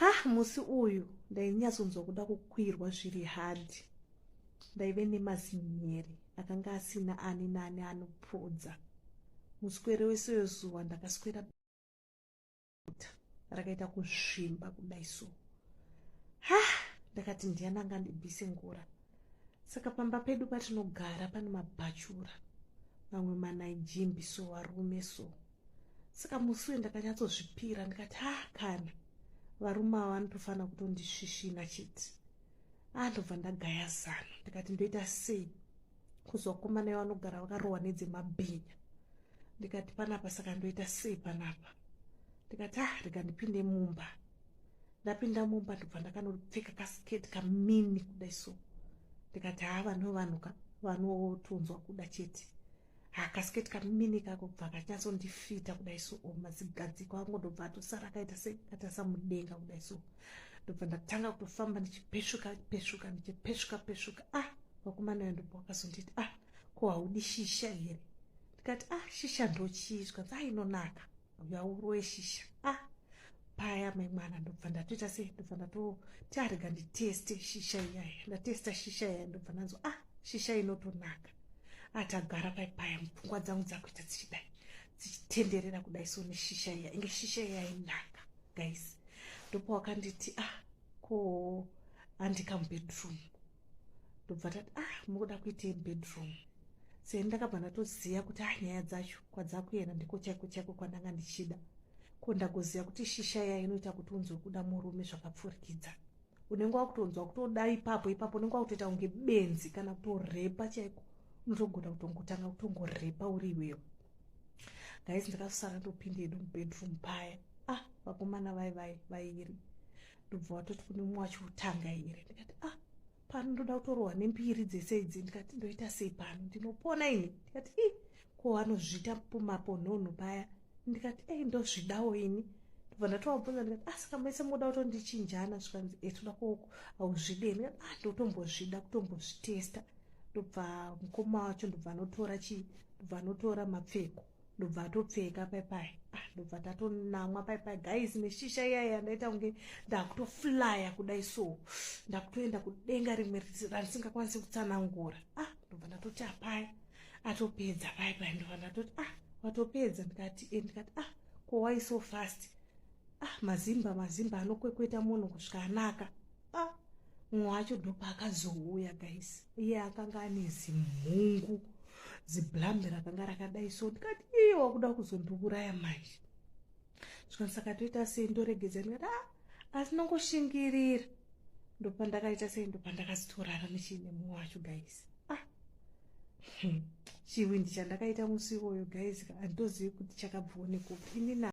ha musi uyu ndainyatsonzwa kuda kukwirwa zviri hadhi ndaive nemazinyeri akanga asina ani nani anopodza muswere wese wezuva ndakaswera rakaita kuzvimba kudai so ha ndakati ndiyani anga ndibise ngura saka pamba pedu patinogara pane mabhachura mamwe manaijimbi so varume so saka musi uye ndakanyatsozvipira ndikati ha kana varume ava vanotofanira kutondisvisvina chiti andobva ah, ndagaya zano ndikati ndoita sei kuzokomana ivo vanogara vakarohwa nedzemabhinya ndikati panapa saka ndoita sei panapa ndikati ah rega ndipinde mumba ndapinda mumba ndobva ndakanopfeka kasiketi kamini kudai so ndikati haa ah, vanhu vanhu ka vanotonzwa kuda chete akasiketi kamini kakobva kachazondifita kudai so oh, mazigadziko angu ndobva atosara akaita sekatasa mudenga kudai so ndobva ndatanga kutofamba ndichipesvuka pesvuka ndichipesvuka pesvuka ah vakumanayo ndobva wakazonditi ah ko haudi shisha here ndikati ah shisha ndochiizwa dzainonaka ah, uya uroye shisha ah paya mai mwana ndobva ndatoita sei ndobva ndatoti arega nditeste shisha iyaya ndatesta shisha iyaya ndobva ndanzwa ah shisha inotonaka atagara ah, pai paya mupfungwa dzangu dzakuita dzichidai dzichitenderera kudai so neshisha iya inge shisha iyaya inaka guys ndopo wakanditi ah ko handika mubedroom ndobva tati ah mukuda kuitei bedroom seni ndakabva ndatoziva kuti a ah, nyaya dzacho kwadzakuenda ndiko chaiko chaiko kwandanga ndichida ko ndagoziva kuti shisha iya inoita kuti unzwe kuda murume zvakapfurikidza unenge wakutonzwa kutoda ipapo ipapo unenge wakutoita kunge benzi kana kutorepa chaiko unotogona kutongotanga kutongorepa uri iwewe gais ndakasara ndopinda edu mubedroom paya ah vakomana vai vai vairi ndobva watoti kune mumwe wacho utanga here ndikati ah pano ndoda kutorohwa nembiri dzese idzi ndikati ndoita sei pano ndinopona ini ndikati i ko anozviita pumapo nhonho paya ndikati ei ndozvidawo ini ndobva ndatovabvunza ndikati asika ah, mese moda kutondichinjana zvikanzi etoda eh, koko hauzvide ndikati a ah, ndotombozvida kutombozvitesta ndobva mukoma wacho ndobva anotora chii ndobva anotora mapfeko ndobva atopfeka paipai ah, ndobva tatonamwa paipai guys neshisha iyaya ndaita kunge ndakutoflya kudai so ndakutoenda kudenga rimwe randisingakwanisi kutsanangura ah ndobva ndatoti apai atopedza paipai ndobva ndatoti ah watopedza ndikati e ndikati ah kowai so fast ah mazimba mazimba anokwekweta munhu kusvika anaka ah mumwe wacho ndopaakazouya guys iye akanga ane zimhungu ziblambe rakanga rakadai so ndikati iye wakuda kuzondiuraya manje zvino saka toita sei ndoregedza ndikati a ah, asi nongoshingirira ndopandakaita sei ndopandakazitorara muchiine mumwe wacho guys ah hmm. chiwindi chandakaita musi iwoyo guys handitozivi kuti chakabvionekupi inina